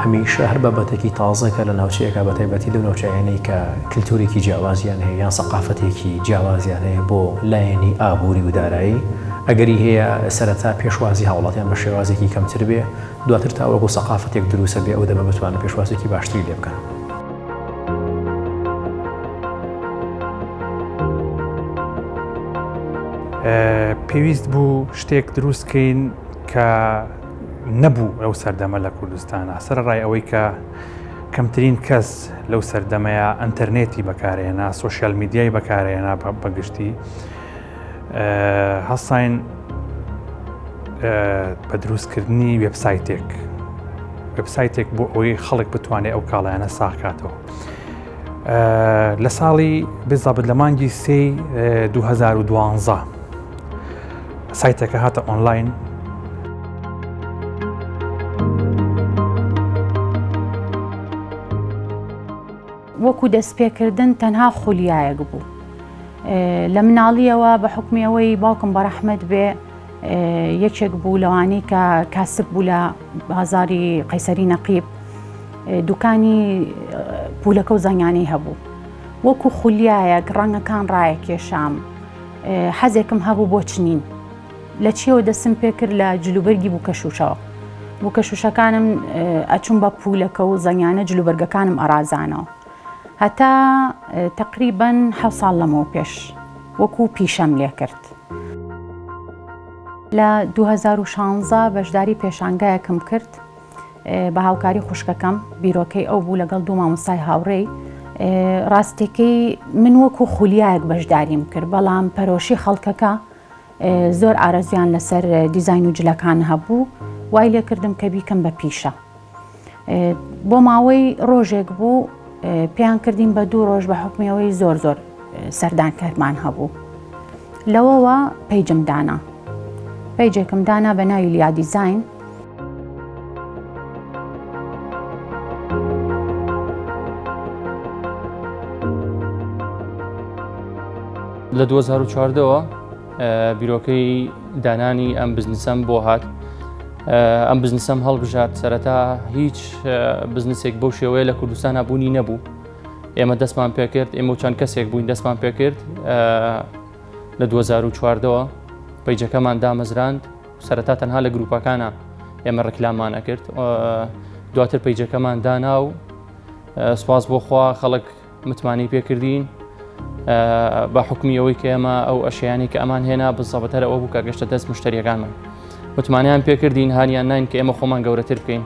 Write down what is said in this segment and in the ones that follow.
هەمیشە هەر بابەتێکی تازە کە لە ناوچەیەکە بە تایبەتی لەو ناوچانەی کە کلتورێکی جیاوازیان هەیە یان سەقافەتێکی جیاوازیان هەیە بۆ لایەنی ئابووری و دارایی ئەگەری هەیە سەرەتا پێشوازی هاوڵاتیان بە شێوازێکی کەمتر بێ، دواتر تا وەکو سەقافەتێک دروسە بێ ئەو دەمە بتوانن پێشوازێکی باشتری لێ بکەن. پێویست بوو شتێک دروست کەین کە نەبوو ئەو سەردەمە لە کوردستانە سەرڕای ئەوەی کە کەمترین کەس لەو سەردەمەیە ئەتەرنێتی بەکارێنا سوۆسیال میدیای بەکارێنا بەگشتی هەستاین بە دروستکردنی وبسایتێک وبسایتێک بۆ ئەوەی خەڵک بتوانێت ئەو کاڵایانە ساخکاتەوە. لە ساڵی بزابت لە مانگی سی 2012 سایتەکە هاتە ئۆنلاین وەکو دەستپێکردن تەنها خولیایەک بوو لە مناڵیەوە بە حکمی ئەوەی باوکم بە ڕەحمەت بێ یەکێک بوو لەوانی کە کاسب بوو لە بازاری قەیسەری نەقیب دوکانی پولەکە و زانیانەی هەبوو وەکو خولیایەک ڕەنگەکان ڕایەکێشام حەزێکم هەبوو بۆ چنین لە چیەوە دەستم پێ کرد لە جلوبەرگی بووکەشوشەوە بووکەشوشەکانم ئەچوم بە پولەکە و زەنگانە جلوبەرگەکانم ئەرازانەوە هەتا تقریبن حە ساڵ لەمەوە پێش وەکو پیشەم لێ کرد. لە 2016 بەشداری پێشانگایەکم کرد بە هاوکاری خوشکەکەم بیرۆکەی ئەو بوو لەگەڵ دوو مامۆستای هاوڕێی ڕاستەکەی من وەکو خولیایەک بەشداریم کرد بەڵام پەرۆشی خەڵکەکە زۆر ئارەزویان لەسەر دیزاین و جلەکان هەبوو وای لێکردم کە بیکەم بە پیشە بۆ ماوەی ڕۆژێک بوو پێیان کردین بە دوو ڕۆژ بە حکمیەوەی زۆر زۆر سەردان کەرمان هەبوو لەوەوە پەیجم دانا پەیجێکم دانا بە ناوی لیا دیزین لە 2014ەوە بیرۆکەی دانانی ئەم بزنسەم بۆ هات ئەم بزنسەم هەڵبژات سەرەتا هیچ بزنسێک بەو شێوەیە لە کوردستان هەبوونی نەبوو ئێمە دەستمان پێکرد ئێمە چەند کەسێک بووین دەستمان پێکرد لە 2014ەوە پیجەکەمان دامەزراند سەرەتا تەنها لە گروپەکانە ئێمە ڕکلامان ئەکرد دواتر پیجەکەمان دانا و سپاس بۆخوا خەڵک متمانەی پێکردین بە حکومی ئەوەی کە ئێمە ئەو ئەشیانی کە ئەمان هێنا بزەبەتەر ئەوە بوو کە گەشتە دەست مشتریەکانمان متمانیان پێکردین هاانیان نین کە ئێمە خۆمان گەورەتر بکەین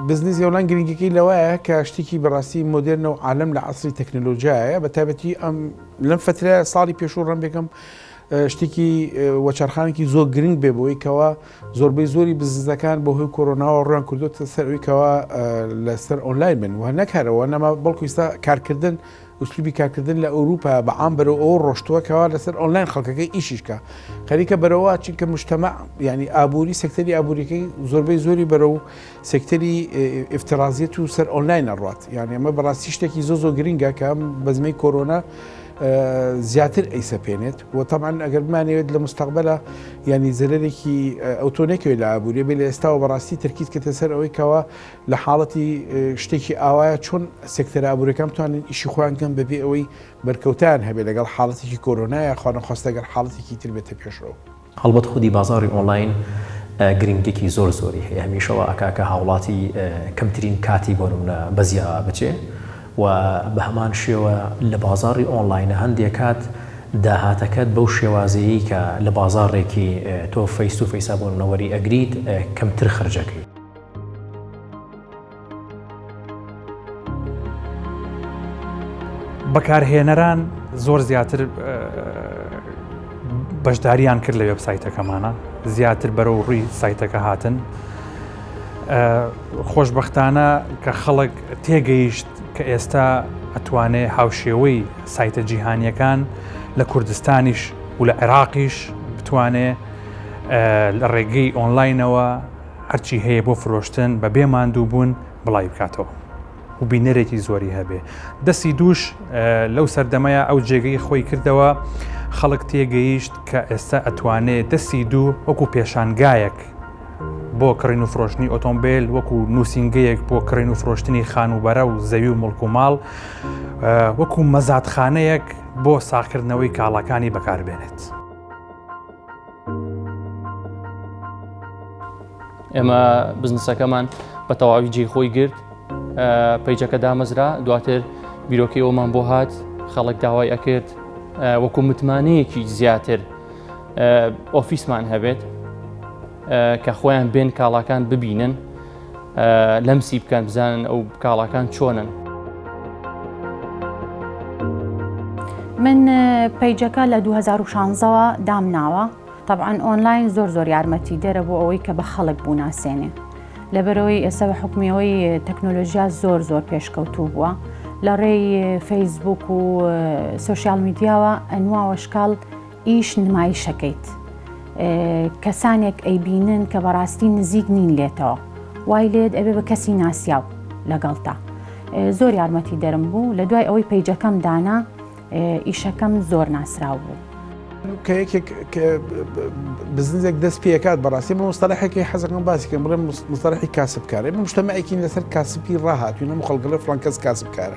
بزنس یۆلان گرنگەکەی لەوەیە کە شتێکی بەڕاستی مدررن و عالم لە عسری تەکنەلۆژیایە بە تابەتی ئەم لەم فەترەیە ساڵی پێشوو ڕەم بێکەم شتێکی وەچارخانێکی زۆر گرنگ بێ بۆی کەەوە زۆربەی زۆری بزنسەکان بۆ هۆی کۆرۆناوە ڕویان کردوتە سەروی کەەوە لەسەر ئۆنلاین من وە نەکارەوە نەما بەڵکو ئستا کارکردن ئوسلوبی کارکردن لە ئەوروپا بەعام بەرەوە ئەو ڕۆشتووە کەوا لەسەر ئۆنلاین خەڵکەکە ئیشیشکە خەریکە بەرەوە چونکە مشتەمە ینی ئابووری سەکتەری ئابووریەکەی زۆربەی زۆری بەرە و سێکتەری ئفترازیەت و سەر ئۆنلاین ئەڕات یان ئێمە بەڕاستی شتێکی زۆ زۆ گرنگە کە ئەم بەزمەی کۆرۆنا زیاتر ئەیسەپێنێت و تەمان ئەگەر بمانەوێت لە مستەقبلە ینی زەرێکی ئەوتۆنێکەوەی لە ئابووری بێ لە ئێستاوە بەڕاستی تەرکیز کەتە سەر ئەوەی کەەوە لە حاڵەتی شتێکی ئاوایە چۆن سێکتەر ئابوورەکەم توانن ئیشی خۆیان کەم بەبێ ئەوەی بەرکەوتان هەبێت لەگەڵ حاڵەتێکی کۆرۆنایە خۆنەخواستەگەر حاڵەتێکی تر بێتە پێشەوە. هەڵبەت خودی بازاڕی ئۆنڵاین گرنگیەکی زۆر زۆری هەیە هەمیشە وا ئەکا کە هاوڵاتی کەمترین کاتی بۆ نمونە بەزیا بچێ و بە هەمان شێوە لە بازاڕی ئۆنڵاینە هەندێک کات داهاتەکەت بەو شێوازەیەی کە لە بازاڕێکی تۆ فەیس و فەیسا بۆ نمونە وەری ئەگریت کەمتر خەرجەکەی. بەکارهێنەران زۆر زیاتر بەشداریان کرد لە وێبسایتەکەمانە زیاتر بەرەو ڕووی سایتەکە هاتن خۆشببختانە کە خەڵک تێگەیشت کە ئێستا ئەتوانێ هاوشێوەی سایتە جیهانیەکان لە کوردستانیش و لە عێراقیش بتوانێ لە ڕێگەی ئۆنلاینەوە هەرچی هەیە بۆ فرۆشتن بە بێ ماندوو بوون بڵاوی بکاتەوە و بینەرێکی زۆری هەبێ دەستی دووش لەو سەردەمەیە ئەو جێگەی خۆی کردەوە خەڵک تێگەیشت کە ئێستا ئەتوانێت دەستی دوو وەکو پێشانگایەک بۆ کڕین و فرۆشتنی ئۆتۆمبیل وەکو نووسنگەیەک بۆ کڕین و فرۆشتنی خانوبەرە و زەوی و مڵک و ماڵ وەکو مەزادخانەیەک بۆ ساخکردنەوەی کاڵاکانی بەکاربێنێت. ئێمە بزنسەکەمان بە تەواوی جێ خۆی گرت پیجەکە دامەزرا دواتر بیرۆکی ئەومان بۆ هات خەڵک داوای ئەکرد وەکو متمانەیەکی زیاتر ئۆفیسمان هەبێت کە خۆیان بێن کاڵاکان ببینن لەمسی بکەن بزانن ئەو کاڵاکان چۆنن. من پەیجەکە لە 2016ەوە دامناوە طبعاان ئۆنلاین زۆر زۆر یارمەتی دەرە بۆ ئەوەی کە بە خەڵک بوو ناسێنێ لەبەرەوەی ئێستا بە حکومیەوەی تەکنۆلۆژیا زۆر زۆر پێشکەوتوو بووە لە ڕێی فەیسبوک و سوسیال میدیاوە ئەنواوە شکاڵ ئیش نمایشەکەیت کەسانێک ئەیبینن کە بەڕاستی نزیک نین لێتەوە وای لێت ئەبێ بە کەسی ناسیاو لەگەڵتا زۆر یارمەتی دەرم بوو لە دوای ئەوەی پەیجەکەم دانا ئیشەکەم زۆر ناسراو بوو. کە یەکێک بزنزێک دەست پێکات بەڕاستی من مستەلحێکی حەزەکەم باسیکەم بڵێ مستەلحی کاسبکارێ مشتەمەێکین لەسەر کاسپی ڕاهاتوینە خەڵگەڵە فلان کەس کاسبکارە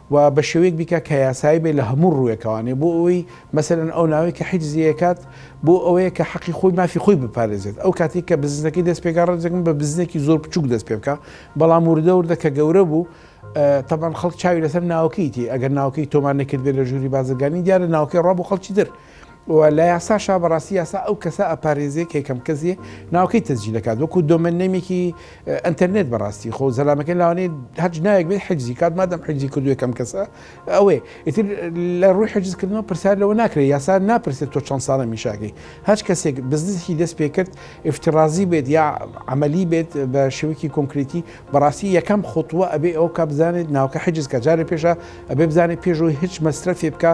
و بە شێوەیەک بیکا کە یاسایی بێ لە هەموو ڕووێکەوانێ بۆ ئەوەی مەسەلەن ئەو ناوەی کە حیجزی ئەکات بۆ ئەوەیە کە حەقی خۆی مافی خۆی بپارێزێت ئەو کاتی کە بزنسەکەی دەست پێکا ڕێزێکم بە بزنێکی زۆر بچووک دەست پێ بکا بەڵام وردە وردە کە گەورە بوو تەبان خەڵک چاوی لەسەر ناوەکەی تێ ئەگەر ناوەکەی تۆمار نەکردبێ لە ژووری بازرگانی دیارە ناوەکەی ڕا بۆ خەڵکی تر و لە یاساشا بەڕاستی یاسا ئەو کەسە ئەپارێزێ کە یەکەم کەس یێ ناوەکەی تەسجیل دەکات وەکوو دۆمێن نەیمێکی ئەنتەرنێت بەڕاستی خۆ زەلامەکەی لەوانەیە هەرچ ناوێک بێ حجزی کات مادەم حجزی کردوو یەکەم کەسە ئەوێ ئیتر لە ڕووی حجزکردنەوە پرسیار لەوە ناکرێ یاسا ناپرسێت تۆ چەند ساڵە میشاکەی هەچ کەسێک بزنسکی دەست پێ کرد ئفترازی بێت یا عملی بێت بە شێوەیەکی کۆنکرێتی بەڕاستی یەکەم خوتووە ئەبێ ئەو کا بزانێت ناوکە حجز کە جارێ پێشە ئەبێ بزانێت پێشەوەی هیچ مەسرەفێ بکە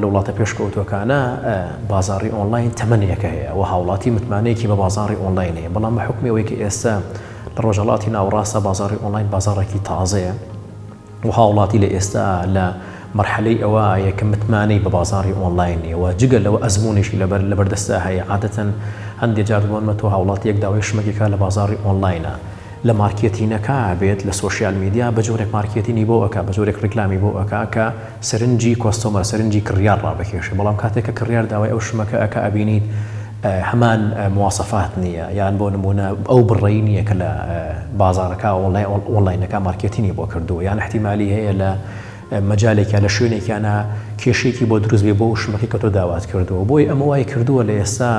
لە وڵاتە پێشکەوتوەکانە بازاری ئۆنلاین تەمەنێکە هەیە و هاوڵاتی متمانەیەکی بە بازاری ئۆنلاین هەیە بەڵام بە حکمی ئەوەی کە ئێستا لە ڕۆژەڵاتی ناوڕاستە بازاری ئۆنلاین بازارێکی تازەیە و هاوڵاتی لە ئێستا لە مرحلەی ئەوە یەکە متمانەی بە بازاری ئۆنلاین نیەوە جگە لەوە ئەزمونیشی لەبەر لەبەردەستا هەیە عادەتەن هەندێک جاردبوون مە تۆ هاوڵاتی یەک داوای شمەکێکا لە بازاری ئۆنلاینە لە مارکێتینەکا بێت لە سۆشیال میدیا بە جۆرێک مارکێتینی بۆ ئەکا بە جۆرێک ڕیکلامی بۆ ئەکا کە سەرنجی کۆستۆمەر سەرنجی کڕیار ڕابکێشێ بەڵام کاتێک کە کڕیار داوای ئەو شمەکە ئەکا ئەبینیت هەمان مواصەفات نییە یان بۆ نموونە ئەو بڕەی نییە کە لە بازاڕەکا ئۆنڵاینەکا مارکێتینی بۆ کردووە یان ئیحتیمالی هەیە لە مەجالێکە لە شوێنێکیانا کێشەیەکی بۆ دروست بێ بۆ ئەو شمەکەی کە تۆ داوات کردووە بۆی ئەمە وای کردووە لە ئێستا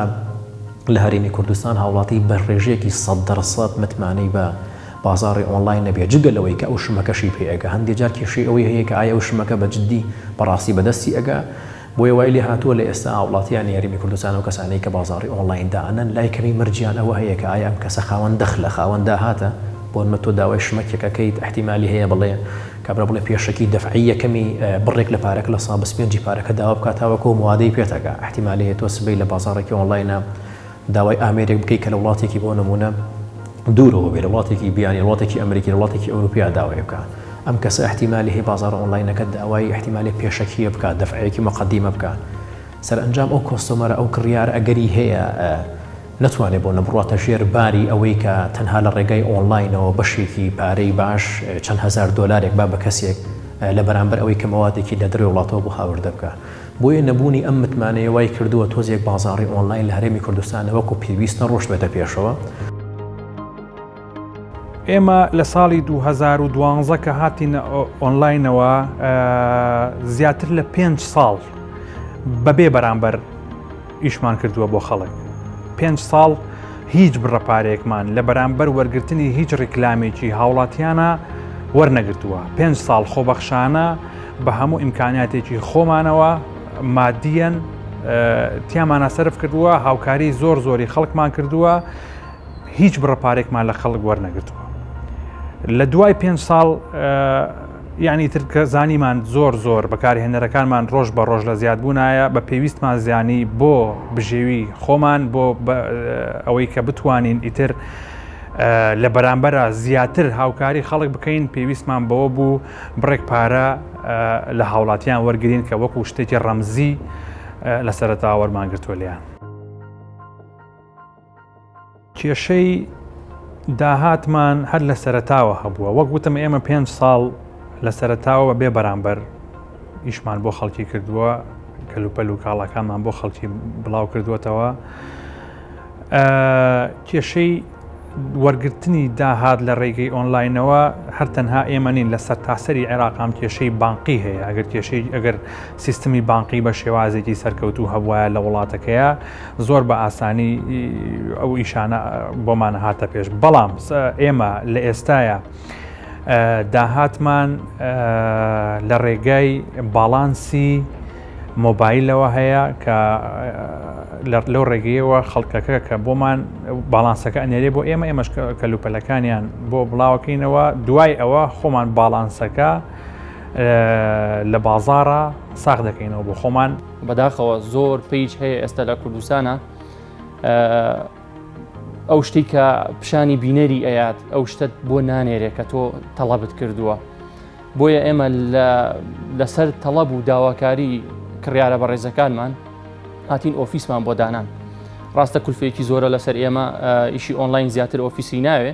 لە هەرێمی کوردستان هاوڵاتی بە ڕێژەیەکی سەد دەر سەد متمانەی بە بازاڕی ئۆنڵاین نەبێ جگە لەوەی کە ئەو شمەکەشی پێ ئەگا هەندێ جار کێشەی ئەوەی هەیە کە ئایا ئەو شمەکە بە جددی بەڕاستی بەدەستی ئەگا بۆیە وای لێهاتووە لە ئێستا هاوڵاتییانی هەرێمی کوردستان ئەو کەسانەی کە بازاڕی ئۆنڵاین دائەنەن لای کەمی مەرجیان ئەوە هەیە کە ئایا ئەم کەسە خاوەن دەخلە، خاوەن داهاتە؟ بۆنمە تۆ داوای شمەکێک ئەکەیت ئیحتیمالی هەیە بڵێ کابرا بڵێ پێشەکی دەفعی یەکەمی بڕێک لە پارەکە لە سا بەسپێنجی پارەکە داوا بکا تاوەکو ئەو موادەی پێت ئەگا ئیحتیمالی هەیە تۆ سبەی لە بازاڕێکی ئۆنڵاینە داوای ئامێرێک بکەی کە لە وڵاتێکی بۆ نموونە دوورەوە بێ لە وڵاتێکی بیانی وڵاتێکی ئەمریکی لە وڵاتێکی ئەوروپیا داوای بکە ئەم کەسە احتیمالی هەیە بازارە ئۆنلاینەکە داوای احتیمالی پێشەکیە بکە دەفعەیەکی مقدمە بکە سەرئەنجام ئەو کۆستۆمەرە ئەو کڕیار ئەگەری هەیە نەتوانێت بۆ نەبڕاتە ژێر باری ئەوەی کە تەنها لە ڕێگای ئۆنلاینەوە بەشێکی پارەی باش چەند هزار دلارێک با بە کەسێک لە بەرامبەر ئەوەی کە مەوادێکی لە دەرەوە وڵاتەوە بۆ هاوردە بکە بۆیە نەبوونی ئەم متمانەیە وای کردووە تۆزێک بازاڕی ئۆنلاین لە هەرێمی کوردستان نەوەکو پێویست نەڕۆشتبێتە پێشەوە. ئێمە لە ساڵی 2012 کە هاتینە ئۆنلاینەوە زیاتر لە پێنج ساڵ بەبێ بەرامبەر ئیشمان کردووە بۆ خەڵک پێنج ساڵ هیچ بڕە پارێکمان لە بەرامبەر وەرگرتنی هیچ ڕیکلامێکی هاوڵاتیانە وەرنەگرتووە پێنج ساڵ خۆبەخشانە بە هەموو ئیمکاناتێکی خۆمانەوە مادیەن تیامانە سرف کردووە هاوکاری زۆر زۆری خەڵکمان کردووە هیچ بڕە پارێکمان لە خەڵک وەرنەگرتووە لە دوای پێنج ساڵ یانی تر کە زانیمان زۆر زۆر بەکارهێنەرەکانمان ڕۆژ بە ڕۆژ لە زیادبوونایە بە پێویستمان زیانی بۆ بژێوی خۆمان بۆ ئەوەی کە بتوانین ئیتر لە بەرامبەرە زیاتر هاوکاری خەڵک بکەین پێویستمان بەوە بوو بڕێک پارە لە هاوڵاتیان وەرگین کە وەکو شتێکی ڕەمزی لە سەرتاوەرمانگرتووە لیان. کێشەی داهاتمان هەر لە سەرەتاوە هەبووە وەک وتم ئێمە پێ ساڵ لە سەرەتاوە بێ بەرامبەر ئیشمان بۆ خەڵکی کردووە کەلوپەل و کاڵاکانمان بۆ خەڵکی بڵاو کردووەتەوە کێشەی وەرگرتنی داهات لە ڕێگەی ئۆنلاینەوە هەر تەنها ئێمە نین لە سەر تاسەری عێراقام کێشەی بانقی هەیە ئەگەر کێشەی ئەگەر سیستمی بانقی بە شێوازێکی سەرکەوتوو هەبوایە لە وڵاتەکەیا زۆر بە ئاسانی ئەو ئیشانە بۆمان هاتە پێش بەڵام ئێمە لە ئێستاە داهاتمان لە ڕێگای باڵانسی مۆبایلەوە هەیە کە لەو ڕێگەیەوە خەڵکەکە کە بۆمان باڵانسەکە ئەنێرێ بۆ ئێمە ئێمەش کەلوپەلەکانیان بۆ بڵاوکەینەوە دوای ئەوە خۆمان باڵانسەکە لە بازارە ساخ دەکەینەوە بۆ خۆمان بەداخەوە زۆر پیج هەیە ئێستا لە کوردستانە ئەو شتی کە پیشانی بینەری ئەیات ئەو شتت بۆ نانێرێ کە تۆ تەڵەبت کردووە بۆیە ئێمە لەسەر تەڵەب و داواکاری کڕیارە بەڕێزەکانمان هاتین ئۆفیسمان بۆ دانان ڕاستە کولفێکی زۆرە لەسەر ئێمە ئیشی ئۆنلاین زیاتر ئۆفیسی ناوێ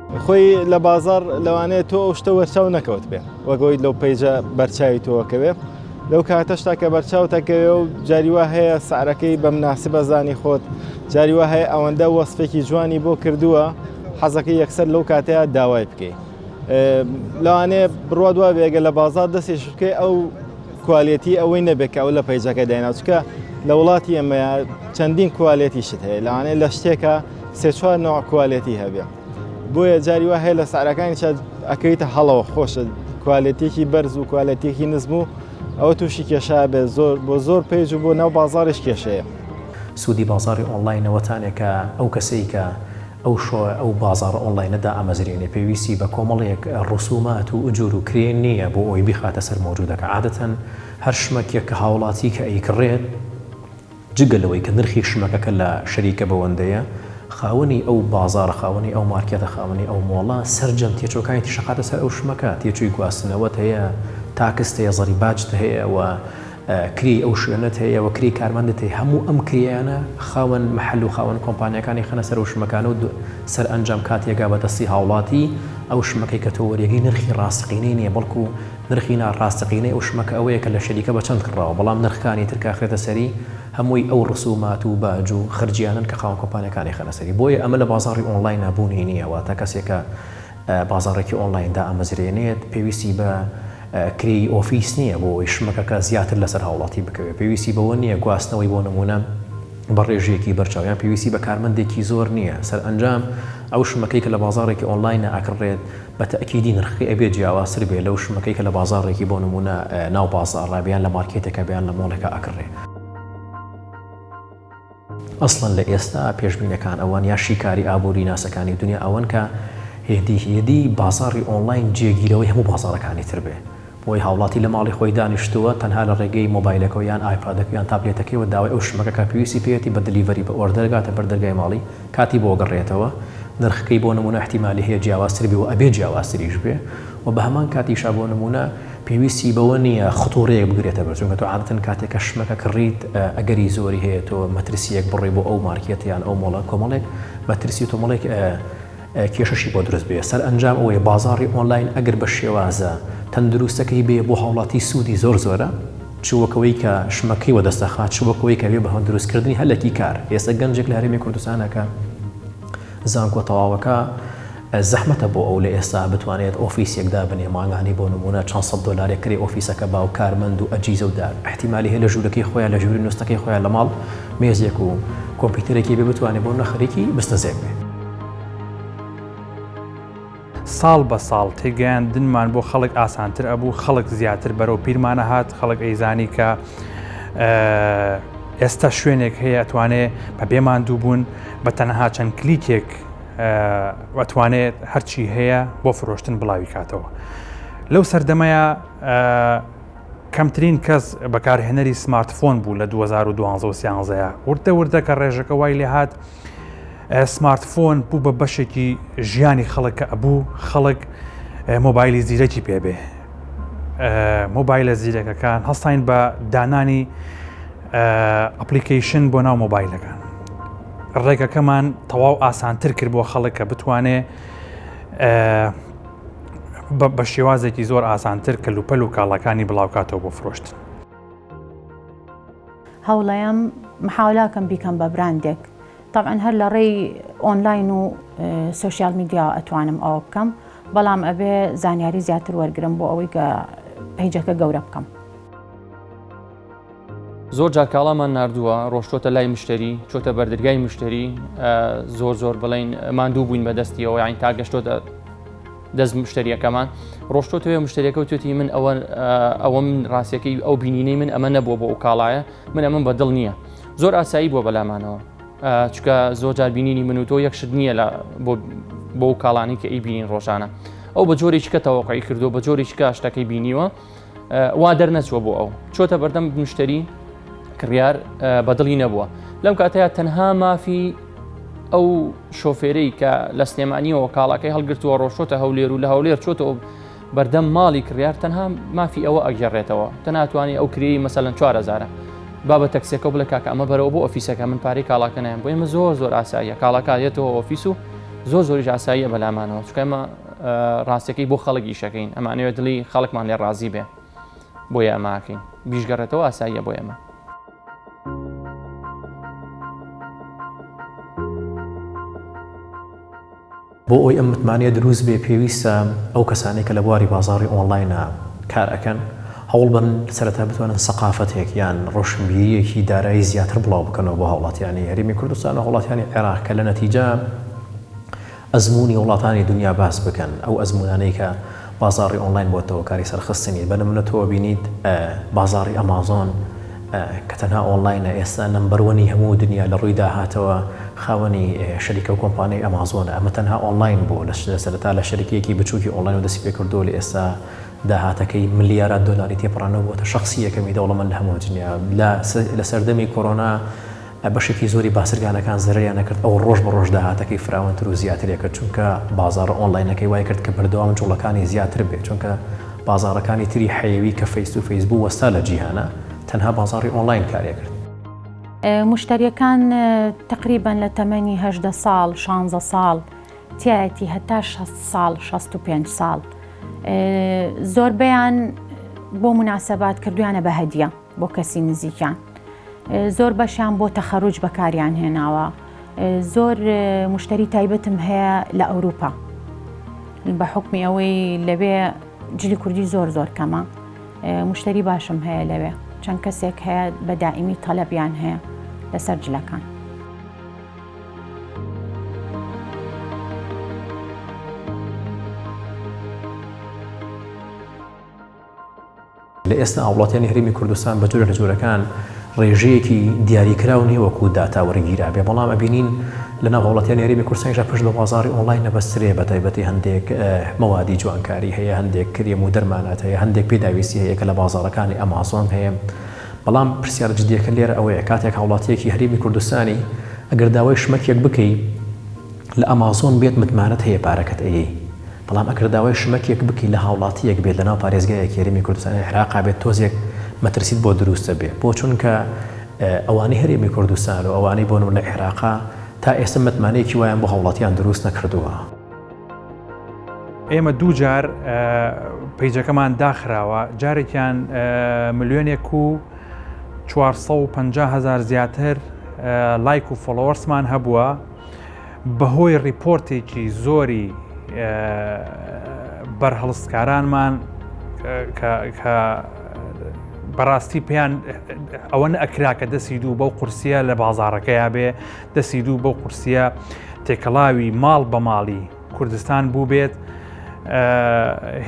خۆی لە بازار لەوانەیە تۆ ئەو شتە وەرچاو نەکەوت بێ وەگەوەی لەو پەیجە بەرچاوی تۆکەوێ لەو کاتەشتا کە بەرچاو تەکەوێ و جاریوا هەیە سعرەکەی بە مناسی بەزانی خۆت جاریوا هەیە ئەوەندە وەسفێکی جوانی بۆ کردووە حەزەکە یەکسەر لەو کاتەیە داوای بکەیت لەوانەیە بڕوا دوا بێگە لە بازار دەستی شکەی ئەو کوالەتی ئەوەی نەبێت کە ئەو لە پەیجەکە دایناچکە لە وڵاتی ئەمەیە چەندین کوالەتیشت هەیە لەوانەیە لە شتێکە سێ چوار نەوع کوالێتی هەبێ بۆیە جاری وا هەیە لە سعراکانی چاد ئەکەیتە هەڵەوە خۆشە کوالێتێکی بەرز و کوالەتێکی نزم و ئەوە تووشی کێشا بێت زۆر بۆ زۆر پێج و بۆ ناو بازاڕش کێشەیە. سوودی بازاڕی ئۆنلاینەوەتانێ کە ئەو کەسەی کە ئەو شۆ ئەو بازاڕە ئۆنلاینە دائەمەزرێنێ پێویستی بە کۆمەڵێک ڕسوومات و ئجور و کرێ نییە بۆ ئەوەی بیخاتە سەر مەوجوودەکە عادەتەن هەر شمەکێک کە هاوڵاتی کە ئەیکڕێت جگە لەوەی کە نرخی شمەکەکە لە شەریکە بەوەندەیە، خاوەنی ئەو بازاڕە، خاوەنی ئەو مارکێتە، خاوەنی ئەو مۆڵە، سەرجەم تێچووەکانی تیشەخاتە سەر ئەو شمەکە، تێچووی گواستنەوەت هەیە، تاکست هەیە، زەڕی باجت هەیە و کرێی ئەو شوێنەت هەیە و کرێی کارمەندت هەیە، هەموو ئەم کرێیانە خاوەن مەحەل و خاوەن کۆمپانیاکانی خەنە سەر ئەو شمەکانە و سەرئەنجام کاتێ گا بە دەستی هاوڵاتی، ئەو شمەکەی کە تۆ وەریەگری نرخی ڕاستەقینەی نیە بەڵکو نرخی نا ڕاستەقینەی ئەو شمەکە ئەوەیە کە لە شەریکە بە چەند کڕاوە بەڵام نرخکانی تر کە ئەخرێتە سەری هەمووی ئەو ڕسومات و باج و خەرجیانەن کە خاوەن کۆمپانیاکان ئەیخەنە سەری بۆیە ئەمە لە بازاڕی ئۆنڵاینە بوونی نیە واتە کەسێک کە بازاڕێکی ئۆنڵاین دائەمەزرێنێت پێویستی بە کرێی ئۆفیس نیە بۆ ئەوەی شمەکەکە زیاتر لەسەر هاوڵاتی بکەوێت پێویستی بەوە نیە گواستنەوەی بۆ نمونە بە ڕێژەیەکی بەرچاو یان پێویستی بە کارمەندێکی زۆر نیە سەرئەنجام ئەو شمەکەی کە لە بازاڕێکی ئۆنڵاینە ئەکڕێت بە تەئکیدی نرخەکەی ئەبێ جیاوازتر بێ لەو شمەکەی کە لە بازاڕێکی بۆ نموونە ناو بازاڕە یان لە مارکێتێکە یان لە مۆڵێکا ئەکڕێ. ئەسڵەن لە ئێستا پێشبینەکان ئەوەن یا شیکاری ئابووری ناسەکانی دونیا ئەوەن کە هێدی هێدی بازاڕی ئۆنڵاین جێگیرەوەی هەموو بازاڕەکانی تر بێ. بۆی هاوڵاتی لە ماڵی خۆی دانیشتووە تەنها لە ڕێگەی مۆبایلەکەوە یان ئایپادەکەو یان تابلێتەکەیەوە داوای ئەو شمەکە کە پێویستی پێیەتی بە دلیڤەری بە ئۆردەر گاتە بەر دەرگای ماڵی کاتی بۆ گەڕێتەوە نرخەکەی بۆ نمونە ئیحتیمالی هەیە جیاوازتر بێ و ئەبێ جیاوازتریش بێ و بە هەمان کاتیشا بۆ نمونە پێویستی بەوە نیە خطورەیەک بگرێتە بەر چونکە تۆ عادەتەن کاتێک کە شمەکە کڕیت ئەگەری زۆری هەیە تۆ مەترسیەک بڕۆی بۆ ئەو مارکێت یان ئەو مۆڵە کۆمەڵێک مەترسی و تۆ مەڵێک کێشەشی بۆ دروست بێ سەرئەنجام ئەوەیە بازاڕی ئۆنلاین ئەگەر بە شێوازە تەندروستەکەی بێ بۆ هاوڵاتی سوودی زۆر زۆرە چ وەکەوەی کە شمەکەی وەدەست ئەخا چ وەکەوەی کە بێ بە هەندروست کردنی هەلەکی کار ئێستا گەنجێک لە هەرێمی کوردستانە کە زانکۆ تەواوەکە زەحمەتە بۆ ئەو لە ئێستا بتوانێت ئۆفیسێک دابنێ مانگانی بۆ نمونە چەند سەد دۆلارێک کرێ ئۆفیسەکە باو کارمەند و ئەجیزە و دار احتیمالی هەیە لە ژوورەکەی خۆیان لە ژووری نوستەکەی خۆیان لە ماڵ مێزێک و کۆمپیوتەرێکی بێ بتوانێت بۆ نەخەرێکی بستەزێک بێ ساڵ بە ساڵ تێگەیاندنمان بۆ خەڵک ئاسانتر ئەبوو خەڵک زیاتر بەرەو پیرمانە هات خەڵک ئەیزانی کە ئێستا شوێنێک هەیە ئەتوانێ بە بێمان دوو بوون بە تەنەها چەند کلیکێک ئەتوانێت هەرچی هەیە بۆ فرۆشتن بڵاوی کاتەوە لەو سەردەمەیە کەمترین کەس بەکارهێنەری سمارتفۆن بوو لە 2012 وردە وردە کە ڕێژەکە وای لێهات سمارت فۆن بوو بە بەشێکی ژیانی خەڵک کە ئەبوو خەڵک مۆبایلی زیرەکی پێبێ مۆبایلە زیرەکەکان هەستین بە دانانی ئەپلیکیشن بۆ ناو مۆبایلەکان ڕێگەکەمان تەواو ئاسانتر کرد بۆ خەڵک کە بتوانێ بە شێوازێکی زۆر ئاسانتر کە لوپەل و کاڵەکانی بڵاوکاتەوە بۆ فرۆشت هەوڵەیەم محاولاکەم بیکەم بە براندێک تەبعەن هەر لە ڕێی ئۆنلاین و سۆشیال میدیاوە ئەتوانم ئەوە بکەم بەڵام ئەبێ زانیاری زیاتر وەرگرم بۆ ئەوەی کە پەیجەکە گەورە بکەم. زۆر جار کاڵامان نردووە ڕۆشتۆتە لای مشتری چۆتە بەردرگای مشتری زۆر زۆر بڵین ماندوو بووین بە دەستیەوە یاین تا گەشتۆتە دەست مشتریەکەمان ڕۆشتۆ توێ مشتریەکە و توێتی من ئەوە ئەوەم ڕاستەکەی ئەو بینینەی من ئەمە نەبووە بۆ ئەو کاڵایە من ئەمەم بەدڵ نییە زۆر ئاسایی بووە بەلامانەوە چکە زۆر جار بینینی من و تۆ یەک شت نییە لە بۆ و کاڵانی کە ئی بینین ڕۆژانە ئەو بە جۆری چکە تەوەقعی کردو بە جۆری چکە شتەکەی بینیوە وا دەرنەچوە بۆ ئەو چۆتە بەردەم مشتری کڕیار بەدڵی نەبووە لەم کاتەیە تەنها مافی ئەو شۆفێرەی کە لە سلێمانیەوە کاڵاکەی هەڵگرتووە ڕۆشتە هەولێر و لە هەولێر چۆتەوە بەردەم ماڵی کڕیار تەنها مافی ئەوە ئەگەڕێتەوە تە ناتوانانی ئەو کرێی مەسەلەن چوارەزارە بابە تەکسێکە بڵێ کاکە ئەمە بەرەوە بۆ ئۆفیسەکە من پارەی کاڵاکە نایم بۆ ئمە زۆر زۆر ئاساییە کاڵاکایەتەوە ئۆفیس و زۆر زۆری ئاساییە بەلامانەوە چکەمە ڕاستەکەی بۆ خەڵک ئیشەکەین ئەمانەوە دڵی خەڵکمان لێ ڕازی بێ بۆ ئەماکەین بیشگەڕێتەوە ئاساییە بۆ ئێمە بۆ ئەوەی ئەم متمانەیە دروست بێ پێویستە ئەو کەسانەی کە لە بواری بازاڕی ئۆنڵاینە کار ئەکەن هەوڵ بەن سەرەتا بتوانن سەقافەتێک یان ڕۆشنبیریەکی دارایی زیاتر بڵاو بکەنەوە بۆ هاوڵاتیانی هەرێمی کوردستان و هاوڵاتیانی عێراق کە لە نەتیجە ئەزموونی وڵاتانی دونیا باس بکەن ئەو ئەزموونانەی کە بازاڕی ئۆنڵاین بۆتەوە کاری سەرخستنی، بە نمونە تۆ ئەبینیت بازاڕی ئەمازۆن کە تەنها ئۆنڵاینە ئێستا نەمبەر وەنی هەموو دنیا لە ڕووی داهاتەوە خاوەنی شەریکەو کۆمپانیای ئەمازۆنە ئەمە تەنها ئۆنڵاین بوو لە سەرەتا لە شەریکیەکی بچوکی ئۆنڵاینەوە دەستی پێ کردووە لە ئێستا داهاتەکەی ملیارات دۆلاری تێپەڕاندوە بۆتە شەخسی یەکەمی دەوڵەمەند لە هەموو دنیا لە سەردەمی کۆرۆنا بەشێکی زۆری باسرگانەکان زەرەریان نەکرد، ئەو ڕۆژ بە ڕۆژ داهاتەکەی فراوانتر و زیاتری کرد، چونکە بازاڕە ئۆنلاینەکەی وای کرد کە بەردەوام جوڵەکانی زیاتر بێت، چونکە بازاڕەکانی تری حەیوی کە فەیس تو فەیس بوو وەستا لە جیهانا، تەنها بازاڕی ئۆنلاین کارێ کرد. موشتەریەکان تەقریبەن لە تەمەنی هەژدە ساڵ، شانزە ساڵ تیایەتی هەتا شەست ساڵ، شەست و پێنج ساڵ، زۆربەیان بۆ موناسەبات کردویانە بە هەدیە. بۆ کەسی نزیکیان زۆر بەشیان بۆ تەخەروج بەکاریان هێناوە زۆر مشتری تایبەتم هەیە لە ئەوروپا بە حکمی ئەوەی لەوێ جلی کوردی زۆر زۆر کەمە مشتری باشم هەیە لەوێ چەند کەسێک هەیە بە دائیمی تەلەبیان هەیە لەسەر جلەکان. لە ئێستا هاوڵاتیانی هەرێمی کوردستان بە جۆرە لە جۆرەکان ڕێژەیەکی دیاریکراو نیە وەکو داتا وەرگیرابێ بەڵام ئەبینین لە ناو هاوڵاتیانی هەرێمی کوردستانیشا پشت بە بازاڕی ئۆنڵاین نەبەسترێ بە تایبەتی هەندێک مەوادی جوانکاری هەیە هەندێک کرێم و دەرمانات هەیە هەندێک پێداویستی هەیە کە لە بازاڕەکانی ئەمازۆن هەیە بەڵام پرسیارە جدیەکە لێرە ئەوەیە کاتێک هاوڵاتیەکی هەرێمی کوردستانی ئەگەر داوای شمەکێک بکەی لە ئەمازۆن بێت متمانەت هەیە پارەکەت ئەیەی بەڵام ئەگەر داوای شمەکێک بکەی لە هاوڵاتیەک بێت لەناو پارێزگایەکی هەرێمی کوردستانی عێراقا بێت تۆزێک مەترسیت بۆ دروست دەبێت بۆ چونکە ئەوانەی هەرێمی کوردستان و ئەوانەی بۆ نمونە عێراقا تا ئێستا متمانەیەکی وایان بۆ هاوڵاتیان دروست نەکردووە. ئێمە دوو جار پەیجەکەمان داخراوە جارێکیان ملیۆنێک و 450 هزار زیاتر لایک و فۆڵۆوەرسمان هەبووە بەهۆی ڕیپۆرتێکی زۆری بەرهەڵستکارانمان کە بەڕاستی پێیان ئەوە ئەکرا کە دەسی دوو بەو قورسە لە بازارەکەیا بێ دەسی دوو بەو قورسە تێکەڵاوی ماڵ بە ماڵی کوردستان بوو بێت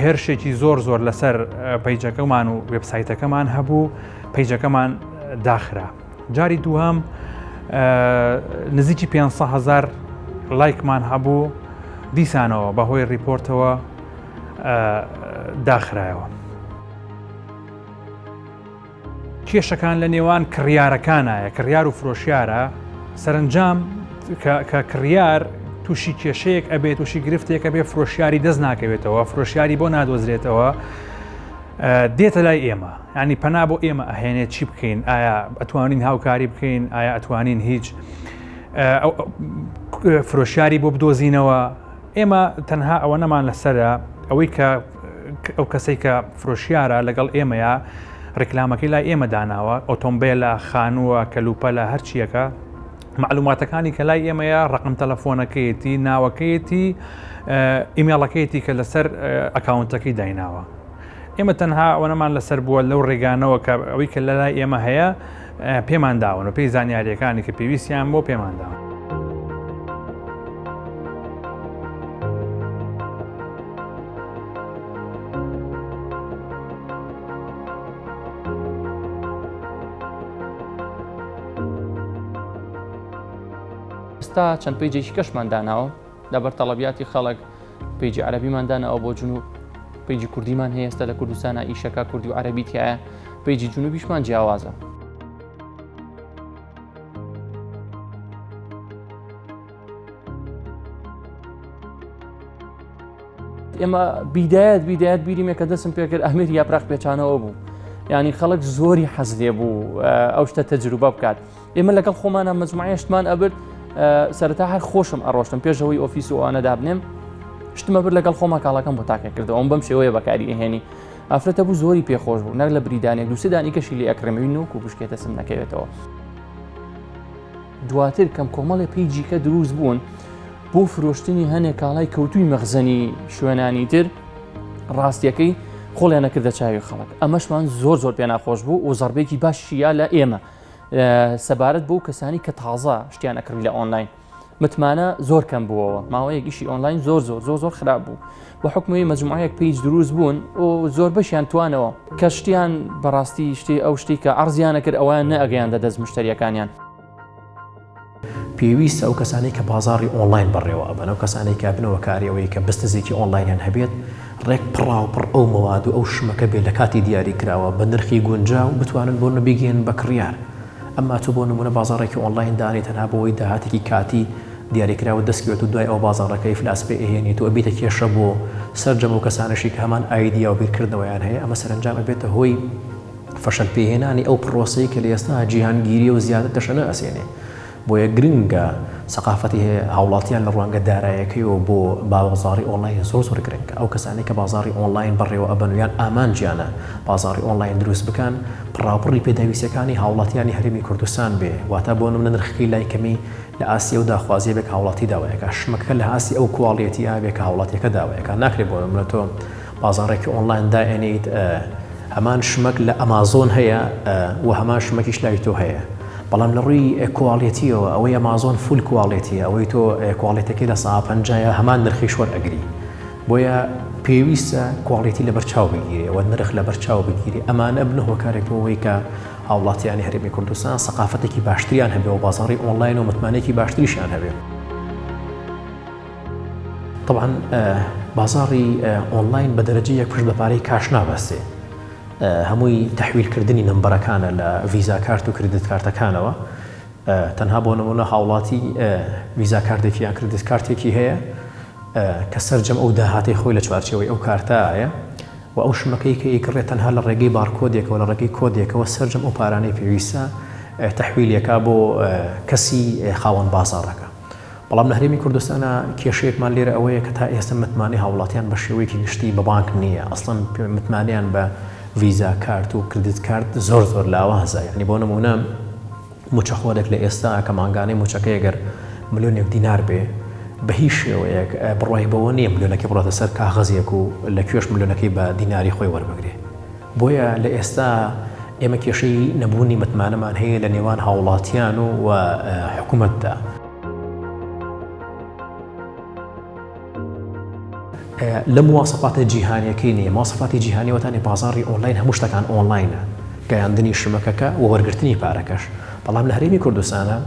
هێرشێکی زۆر زۆر لەسەر پەیجەکەمان و وبسایتەکەمان هەبوو پەیجەکەمان داخرا جاری دووهەم نزیکی 500 هزار لایکمان هەبوو دیسانەوە بەهۆی ڕیپۆرتەوە داخرایەوە. کێشەکان لە نێوان کڕیارەکانایە کڕیار و فرۆشیارە سەرنجام کە کڕیار تووشی کێشەیەک ئەبێت تووشی گرفتێکە بێ فرۆشیاری دەست ناکەوێتەوە فرۆشیاری بۆ نادۆزرێتەوە دێتە لای ئێمە یانی پەنا بۆ ئێمە ئەهێنێت چی بکەین ئایا ئەتوانین هاوکاری بکەین ئایا ئەتوانین هیچ فرۆشیاری بۆ بدۆزینەوە ئێمە تەنها ئەوە نەمان لەسرە ئەوەی کە ئەو کەسێک کە فرۆشیارە لەگەڵ ئێمەیە ڕیکلامەکەی لای ئێمە داناوە ئۆتۆمبیلە خانووە کەلوپە لە هەرچیەکە معلوماتەکانی کە لای ئێمەیە ڕقم تەلەفۆنەکەیەتی ناوەکەیەتی ئیمێڵەکەیەتی کە لەسەر ئەکاونتەکەی دایناوە ئێمە تەنها ئەوەنەمان لەسەر بووە لەو ڕێگانەوە کە ئەوەی کە لەلای ئێمە هەیە پێمان داون و پێی زانیاریەکانی کە پێویستیان بۆ پێمان داون. ئێستا چەند پەیجێکی کەشمان داناوە لەبەر تەڵەبیاتی خەڵک پیجی عربیمان دانەوە بۆ جنوب پیجی کوردیمان هەیەستە لە کوردستانە ئیشەکە کوردی و عربی تایە پیجی جنوبیشمان جیاوازە ئێمە بیدایەت بیدایەت بیریمە کە دەسم پێکرد ئەمیر یاپراخ پێچانەوە بوو ینی خەڵک زۆری حەز لێ بوو ئەو شتە تەجروبە بکات. ئێمە لەگەڵ خۆمانە مجموعەشتمان ئەبرد سەرتا هەر خۆشم ئەڕۆشتم پێشەوەی ئۆفیس و ئەوانە دابنێم شتمە بر لەگەڵ خۆما کاڵەکەم بۆ تاکە کردەوە ئەم بەم شێوەیە بەکاری ئەهێنی ئافرەتە بوو زۆری پێخۆش بوو نەک لە بریدانێک دووسدانی کەشی لە ئەکرمەوی نوک و بشکێتە سم نەکەوێتەوە دواتر کەم کۆمەڵێ پێی جیکە دروست بوون بۆ فرۆشتنی هەنێک کاڵای کەوتوی مەخزەنی شوێنانی تر ڕاستیەکەی خۆڵیان نەکردە چاوی خەڵک ئەمەشمان زۆر زۆر پێ ناخۆش بوو و زەربێکی باششییا لە ئێمە سەبارەت بۆ کەسانی کە تازە شتیان ئەکڕی لە ئۆنلاین متمانە زۆر کەم بووەوە ماوەیەک ئیشی ئۆنلاین زۆر زۆر زۆر زۆر خراپ بوو بە حکومی مەجموعەیەک پیج دروست بوون و زۆر بەشیان توانەوە کە شتیان بەڕاستی شتی ئەو شتی کە ئەرزیانە کرد ئەویان نەگەیاندە دەست مشتریەکانیان. پێویستە ئەو کەسانەی کە بازاڕی ئۆنڵاین بەڕێوە ئەبەن، ئەو کەسانەی کە بنەوە کاری ئەوەی کە بستزێکی ئۆنڵاینیان هەبێت، ڕێک پڕاوپڕ ئەو مەواد و ئەو شمەکە بێت لە کاتی دیاری کراوە بە نرخی گونجاو بتوانن بۆ نە بیگەیەنن بە کڕیار. ئەمما تۆ بۆ نموونە بازاڕێکی ئۆنڵاین دانێی تەنها بۆ ئەوەی داهاتێکی کاتی دیاری کراوەت دەست بکەوێت و دوای ئەوە بازاڕەکە ئیفلاس پێ ئەهێنیت و ئەبیتە کێشە بۆ سەرجەم ئەو کەسانەشی کە هەمان ئایدیا و بیرکردنەوەیان هەیە ئەمە سەرەنجام ئەبێتە هۆی فەشەل پێهێنانی ئەو پڕۆسەی کە لەئێستا جیهانگیریە و زیاتر تەشەنە ئەسێنێ. بۆیە گرنگە سەقافەتی هاوڵاتیان لە ڕوانگە دارایەکەیەوە بۆ بابەزاڕی ئۆنڵاین زۆر زۆر گرنگە. ئەو کەسانەی کە بازاڕی ئۆنڵاین بەڕێوە ئەبەن و یان ئامانجیانە بازاڕی ئۆنڵاین دروست بکەن پڕاوپڕی پێداویستیەکانی هاوڵاتیانی هەرێمی کوردستان بێ واتا بۆ نمونە نرخەکەی لای کەمی لە ئاستی ئەو داخوازیە بێ کە هاوڵاتی داوای ئەکا شمەکەکە لە ئاستی ئەو کواڵیەتیە بێ کە هاوڵاتیەکە داوای ئەکا ناکرێ بۆ نمونە تۆ بازاڕێکی ئۆنڵاین دائەنێیت هەمان شمەک لە ئەمازۆن هەیە و هەمان شمەکیش لای تۆ هەیە بەڵام لە ڕووی کواڵێتیەوە ئەوەی ئەمازۆن فول کواڵێتی ئەوەی تۆ کواڵێتەکەی لە سا پەنجایە هەمان نرخی شوەر ئەگری بۆیە پێویستە کواڵێتی لە بەرچاو بگیری ئەوە نرخ لە بەرچاو بگیری ئەمانە بنە هۆکارێک بۆەوەی کە هاوڵاتیانی هەرێمی کوردستان سەقافەتێکی باشتریان هەبێ و بازاری ئۆنلاین و متمانێکی باشتریشان هەبێت. طبعا بازاڕی ئۆنلاین بە دەرەجەیەک پشت بە پارەی کاش نابەستێ هەمووی تحویلکردنی نمبەرەکانە لە ڤیزا کارت و کردت کارتەکانەوە تەنها بۆ نمونە هاوڵاتی ڤیزا کاردێکی یا کردت کارتێکی هەیە کە سەررجەم ئەو داهاتی خۆی لە چوارچەوەی ئەو کارتایە و ئەو شمەکەی کە ئیکڕێت تەنها لە ڕێگەی بارکۆدێکەوە لە ڕێگەی کۆدێکەوە سەررجەم ئەو پارانەی پێویستە تحویلەکە بۆ کەسی خاوەن بازارەکە بەڵام لە هەرێمی کوردستانا کێشەیەکمان لێرە ئەوەیە کە تا ئێستە متمانەی هاوڵاتیان بە شێوەیەکی گشتی بە بانک نییە ئەسڵەن متمانەیان بە ڤیزا کارت و کردت کارت زۆر زۆر لاوازە یعنی بۆ نمونە موچەخۆرێک لە ئێستا کە مانگانەی موچەکەی گەر ملیۆنێک دینار بێ بە هیچ شێوەیەک بڕای بەوە نییە ملیۆنەکە بڕاتە سەر کاغەزێک و لە کوێش ملیۆنەکەی بە دیناری خۆی وەربگرێ بۆیە لە ئێستا ئێمە کێشەی نەبوونی متمانەمان هەیە لە نێوان هاوڵاتیان و و حکوومەتدا. لە مواسەفاتە جیهانیەکەی نیە ماسەفاتی جیهانی وەتانی بازاری ئۆنلاین هەموو شتەکان ئۆنلاینە گەیاندنی شمەکەکە و وەرگرتنی پارەکەش بەڵام لە هەرێمی کوردستانە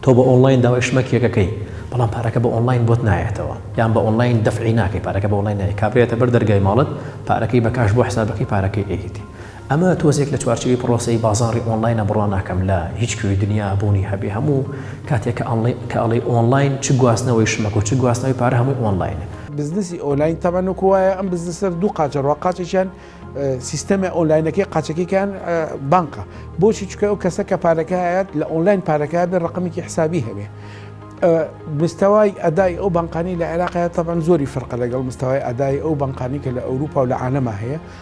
تۆ بە ئۆنلاین داوای شمەکێکەکەی بەڵام پارەکە بە ئۆنلاین بۆت نایەتەوە یان بە ئۆنلاین دەفعی ناکەی پارەکە بە ئۆنلاین نایە کابرێتە بەر دەرگای ماڵت پارەکەی بە کاش بۆ حسابەکەی پارەکەی ئەیتی ئەمە تۆزێک لە چوارچێوەی پڕۆسەی بازاڕی ئۆنڵاینە بڕوا ناکەم لە هیچ کوێی دنیا بوونی هەبێ هەموو کاتێک کە ئەڵێی ئۆنڵاین چ گواستنەوەی شمەک و چ گواستنەوەی پارە هەمووی ئۆنڵاینە. بزنسی ئۆنلاین تەبەن وەکو وایە ئەم بزنسە دوو قاچە ڕوا قاچێکیان سیستەمە ئۆنلاینەکەی قاچەکەیان بانقە بۆچی چکە ئەو کەسە کە پارەکە هەیەت لە ئۆنلاین پارەکە بێ ڕقمێکی حسابی هەبێ مستەوای ئەدای ئەو بانقانی لە عێراقەیە تەبەن زۆری فرقە لەگەڵ مستەوای ئەدای ئەو بانقانی کە لە ئەوروپا و لە عالەما هەیە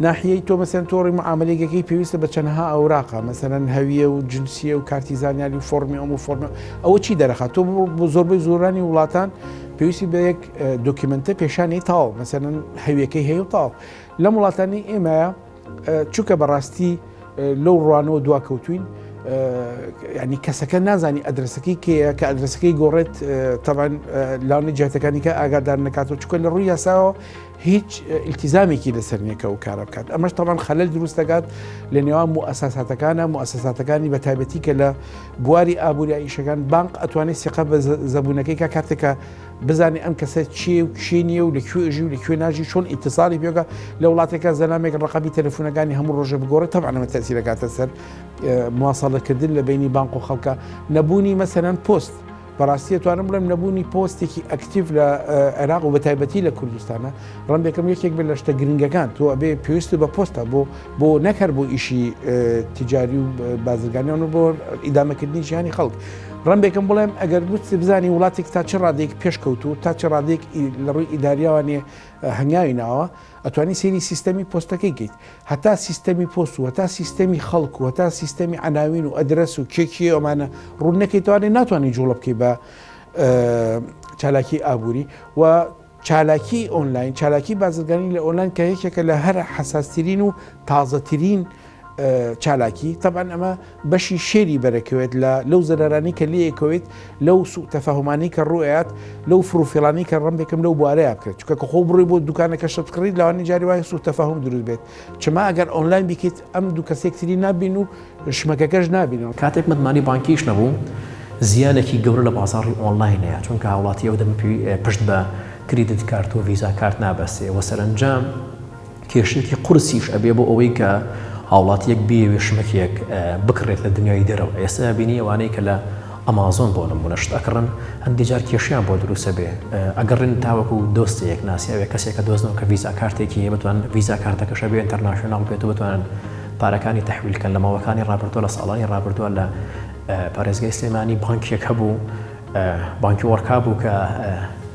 ناحیەی تۆ مەسەن تۆڕی معامەلەیگەکەی پێویستە بە چەنەها ئەوراقە مەسەن هەویە و جنسیە و کارتی زانیاری و فۆرمی ئەم و فۆرمە ئەوە چی دەرەخات تۆ بۆ زۆربەی زۆرانی وڵاتان پێویستی بە یەک دۆکیمنتە پێشانی تاو مەسەن هەویەکەی هەیە و تاو لەم وڵاتانی ئێمەیە چونکە بەڕاستی لەو ڕوانەوە دوا کەوتوین ینی کەسەکە نازانی ئەدرسەکەی کەیە کە ئەدرسەکەی گۆڕێت تەبان لاونی جاتەکانی کە ئاگادار نکات و چکە لە ڕووی یاساوە هیچ ئیلتیزامێکی لەسەر نییە کە ئەو کارە بکات، ئەمەش تەبعەن خەلەل دروست دەکات لە نێوان موئەسەساتەکانا، موئەسەساتەکانی بە تایبەتی کە لە بواری ئابووریی ئیشەکان بانق ئەتوانێت سیقە بە زەبوونەکەی کا کاتێک کە بزانێت ئەم کەسە چییە و کێ نییە و لە کوێ ئەژی و لە کوێ ناژی چۆن ئیتیصالی پێ بکا، لە وڵاتێکا زەلامێک ڕەقەمی تەلەفوونەکانی هەموو ڕۆژێ بگۆڕێت تەبعەن ئەمە تەئسیر ئەکاتە سەر مواصەلەکردن لە بەینی بانق و خەڵکا، نەبوونی مەسەلەن پۆست بەڕاستی ئەتوانم بڵێم نەبوونی پۆستێکی ئەکتیف لە عێراق و بەتایبەتی لە کوردستانە ڕەنبێکم یەکێک بێت لە شتە گرنگەکان تۆ ئەبێ پێویست بە پۆستە بۆ بۆ نەکەر بۆ ئیشی تجاری و بازرگانیان و بۆ ئیدامەکردنی ژیانی خەڵک ڕەنبێکم بڵێم ئەگەر بچ بزانانی وڵاتێک تا چ ڕادێک پێشکەوتو تا چ ڕادێک لە ڕووی ئیداریاوانێ هەنگاوی ناوە ئەتوانی سەیری سیستەمی پۆستەکەی کەیت هەتا سیستەمی پۆست و هەتا سیستەمی خەڵک و هەتا سیستەمی عەناوین و ئەدرەس و کێ کێ ئەمانە ڕوون نەکەیتەوە لێ ناتوانانی جوڵە بکەی بە چالاکی ئابووری و چالاکی ئۆنلاین چالاکی بازرگانی لە ئۆنلاین کە یەکێکە لە هەر حەساسترین و تازەترین و چالاکی تەبعەن ئەمە بەشی شێری بەرەکەوێت لە لەو زەرارانی کە لەیەکەوەیت لەو سوء تەفاهمانی کە ڕوئات لەو فروفیڵانی کە ڕم بکەم لەو بوارەیە بکرێت چکە کە خۆ بڕی بۆ دوکانەکە شت کڕیت لەوانی جاری وای سوء تەفاهم دروست بێت چما ئەگەر ئۆنلاین بیکەیت ئەم دوو کەسێکتری نابین و شمەکەکەش نابینەوە کاتێک متمانی بانکیش نەبوو زیانێکی گەورە لە بازاڕی ئۆنلاین هەیە چونکە هاوڵاتی ئەو دەمە پشت بە کریدت کارت و ڤیزا کارت نابەستێ وە سەرەنجام کێشەیەکی قورسیش ئەبێ بۆ ئەوەی کە هاوڵاتیەک بیەوێ شمەکێک بکڕێت لە دنیای دەرەوە ئێستا بینی ئەوانەی کە لە ئەمازۆن بۆ نمونە شت ئەکڕن هەندی جار کێشیان بۆ دروسە بێ ئەگەڕێن تاوەکو دۆستەیەک ناسیاوێ کەسێکە دۆزنەوە کە ڤیزا کارتێکی هەیە بتوان ڤیزا کارتەکەشە بێ ئینتەرناشناڵ بێت و بتوانن پارەکانی تحویلکەن لە ماوەکانی ڕابردووە لە ساڵانی ڕابردووە لە پارێزگای سلێمانی بانکێک هەبوو بانکی وەرکا بوو کە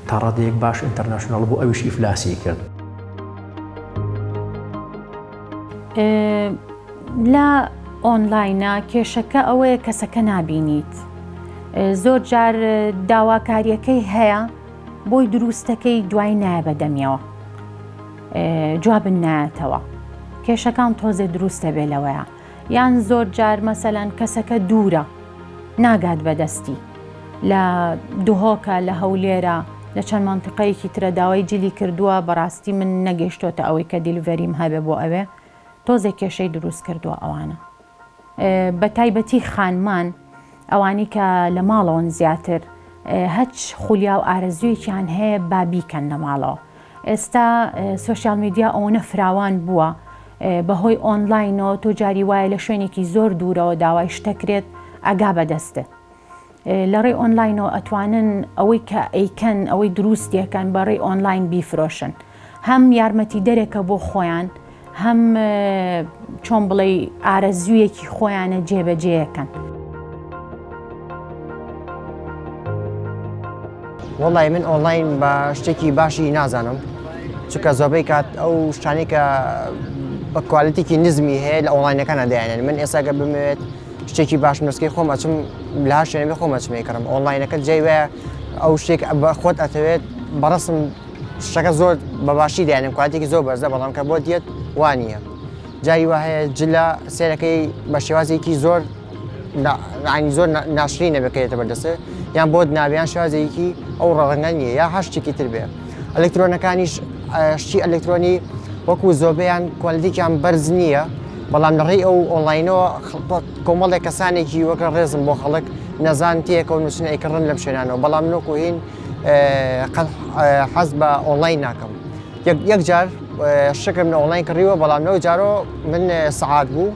تاڕادەیەک باش ئینتەرناشناڵ بوو ئەویش ئیفلاسی کرد لە ئۆنلاینە کێشەکە ئەوەیە کەسەکە نابینیت زۆر جار داواکاریەکەی هەیە بۆی دروستەکەی دوای نایە بەدەمیەوە جوابن نایەتەوە کێشەکان تۆزێ دروستە بێ لەوەیە یان زۆر جار مەسەلەن کەسەکە دوورە ناگات بەدەستی لە دهۆکە لە هەولێرە لە چەند مانتیقەیەکی ترە داوای جلی کردووە بەڕاستی من نەگەشتۆتە ئەوەی کە دیلڤەریم هەبێ بۆ ئەوێ تۆزێ کێشەی دروست کردووە ئەوانە بە تایبەتی خانمان ئەوانی کە لە ماڵەوەن زیاتر هەچ خولیا و ئارەزویەکیان هەیە با بیکەن لە ماڵەوە ئێستا سۆشیال میدیا ئەوەنە فراوان بووە بەهۆی ئۆنلاینەوە تۆ جاری وایە لە شوێنێکی زۆر دوورەوە داوای شتەکرێت ئەگا بەدەستێت لە ڕێی ئۆنلاینەوە ئەتوانن ئەوەی کە ئەیکەن ئەوەی دروستیەکەن بەڕێی ئۆنلاین بیفرۆشن هەم یارمەتی دەرێکە بۆ خۆیان هەم چۆن بڵێ ئارەزوویەکی خۆیانە جێبەجێەکەن. وڵی من ئۆنلاین بە شتێکی باشی نازانم چکە زۆبەی کات ئەو شتانی کە بە کوالەتێکی نزمی هەیە لە ئۆنلاینەکانە دایێن من ئێساگە بمەوێت شتێکی باش نسکی خۆم ئەچم لا شوێنێ خۆمەچمێ کڕم ئۆنلاینەکە جێ وایە ئەو شتێک بە خۆت ئەتەوێت بەڕسم شتەکە زۆر بەباشی دێنم کواتێکی زۆر بەرزە بەڵام کە بۆ دێت وانە جاری وا هەیە جلە سێرەکەی بە شێوازێکی زۆر ینی زۆر ناشری نەبێتێتە بەردەسێ یان بۆت ناویان شازێکی ئەو ڕەنگە نیە یا هەشتێکی تر بێ ئەلکترۆنەکانیش شتی ئەلکترۆنی وەکو زۆبیان کوالدیکیان بەرز نییە بەڵام لەڕێی ئەو ئۆنلاینەوە کۆمەڵێک کەسانێکی وەکە ڕێزم بۆ خەڵک نەزان تێکەوە نووسن ئەیکڕن لەم شوێنانەوە بەڵام نۆکوهین قەت حەز بە ئۆنڵاین ناکەم یەک جار شکم لە ئۆنڵاین کڕیوە بەڵام لەو جارۆ من سەعات بوو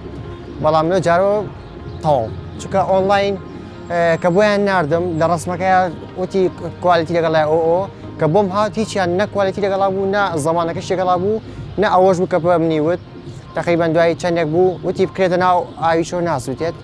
بەڵام لەو جارۆ تەواو چکە ئۆنڵاین کە بۆیان نردم لە ڕسمەکە وتی کوالیتی لەگەڵای ئۆ ئۆ کە بۆم هاات هیچیان نەکوالیتی لەگەڵا بوو نە زمانەکە شێگەڵا بوو نە ئەوەش بوو کە بە منی وت تقریبان دوایی چندێک بوو وتی بکرێتە ناو ئاویشۆ ناسووتێت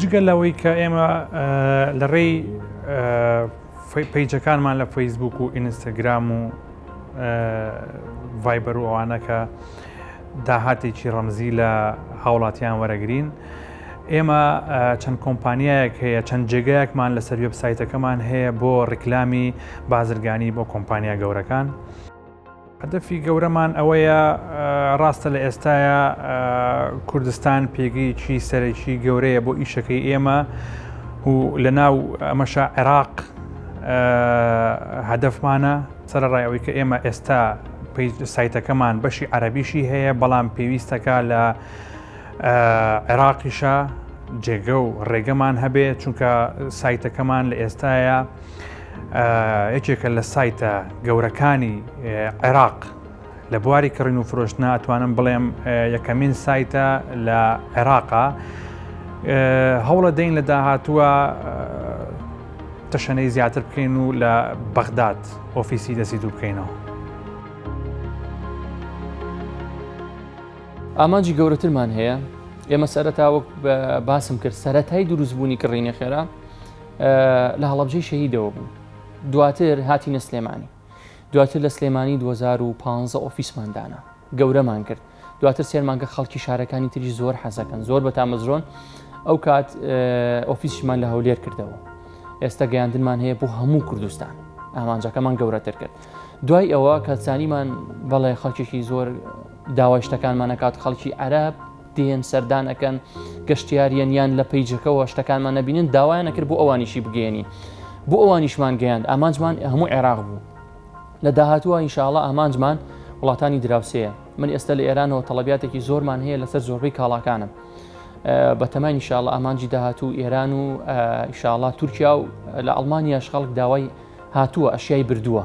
جگە لەوەی کە ئێمە لە ڕێی پیجەکانمان لە فەیسبوک و ئینستاگرام و ڤایبەر و ئەوانەکە داهاتێکی ڕەمزی لە هاوڵاتیان وەرەگرین. ئێمە چەند کۆمپانیایەک هەیە چەند جێگایەکمان لەسەر وبسایتەکەمان هەیە بۆ ڕیکلامی بازرگانی بۆ کۆمپانیا گەورەکان. هەدەفی گەورەمان ئەوەیە، ڕاستە لە ئێستایا کوردستان پێگەیەکی سەرەکی گەورەیە بۆ ئیشەکەی ئێمە و لە ناو ئەمەشا عێراق هەدەفمانە سەرڕای ئەوەی کە ئێمە ئێستا سایتەکەمان بەشی عەربیشی هەیە بەڵام پێویستەکە لە عێراقیشە جێگە و ڕێگەمان هەبێ چونکە سایتەکەمان لە ئێستاە یەکێکە لە سایتە گەورەکانی عێراق لە بواری کڕین و فرۆشتنا ئەتوانم بڵێم یەکەمین سایتە لە عێراقا هەوڵە دەین لە داهاتووە تەشەنەی زیاتر بکەین و لە بەغداد ئۆفیسی دەسی دوو بکەینەوە. ئامانجی گەورەترمان هەیە ئێمە سەرەتا وەک باسم کرد سەتای دروستبوونی کڕینی خێرا لە هەڵەبجەی شەهیدەوە بوو دواتر هاتینە سلێمانی دواتر لە سلێمانی 2015 ئۆفیسمان دانا گەورەمان کرد دواتر سێرمانگە خەڵکی شارەکانی تری زۆر حەزەکەن زۆر بە تامەزرۆن ئەو کات ئۆفیسمان لە هەولێر کردەوە ئێستا گەیاندنمان هەیە بۆ هەموو کوردستان ئامانجەکەمان گەورەتر کرد دوای ئەوە کەسانیمان بەڵێ خەڵکیشی زۆر داوای شتەکانمانەکات خەڵکی عەرب دێن سەردان ئەکەن گەشتیاریەن یان لە پەیجەکەەوە شتەکانمان نەبینن داوایان نەکرد بۆ ئەوانیشی بگەێنین بۆ ئەوانیشمان گەیاند ئامانجمان هەموو عێراق بوو لە داهاتوە ئینشاءڵە ئامانجمان وڵاتانی دراوسەیە من ئێستا لە ئێرانەوە تەڵبیاتێکی زۆرمان هەیە لەسەر زۆربەی کاڵاکانم بە تەمای شاڵە ئامانجی داهاتوو ئێران و شاڵا تورکیا و لە ئەڵمانیاش خەڵک داوای هاتووە ئەشیای بردووە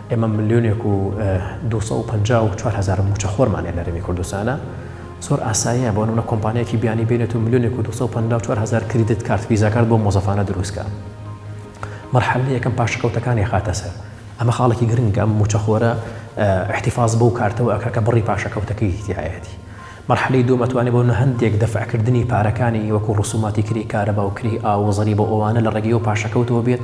ئێمە ملیۆنێک و دوو سەد و پەنجا و چوار هەزار مووچەخۆرمان هەیە لە هەرێمی کوردستانا، زۆر ئاساییە بۆ نموونە کۆمپانیایەکی بیانی بێنێت و ملیۆنێک و دوو سەد و پەنجا و چوار هەزار کریدت کارت ڤیزاکارت بۆ مۆزەفانە دروست کات. مەرحەلە یەکەم پاشەکەوتەکانی ئەخاتە سەر. ئەمە خاڵێکی گرنگە، ئەم مووچەخۆرە ئیحتیفاز بەو کارتەوە ئەکا کە بڕی پاشەکەوتەکەی تیایەتی. مەرحەلەی دووەم ئەتوانێ بۆ هەندێک دەفعکردنی پارەکانی وەکوو ڕسووماتی کرێی کارەبا و کرێی ئاو و زەریبە و ئەوانە لە ڕێگەی ئەو پاشەکەوتەوە بێت،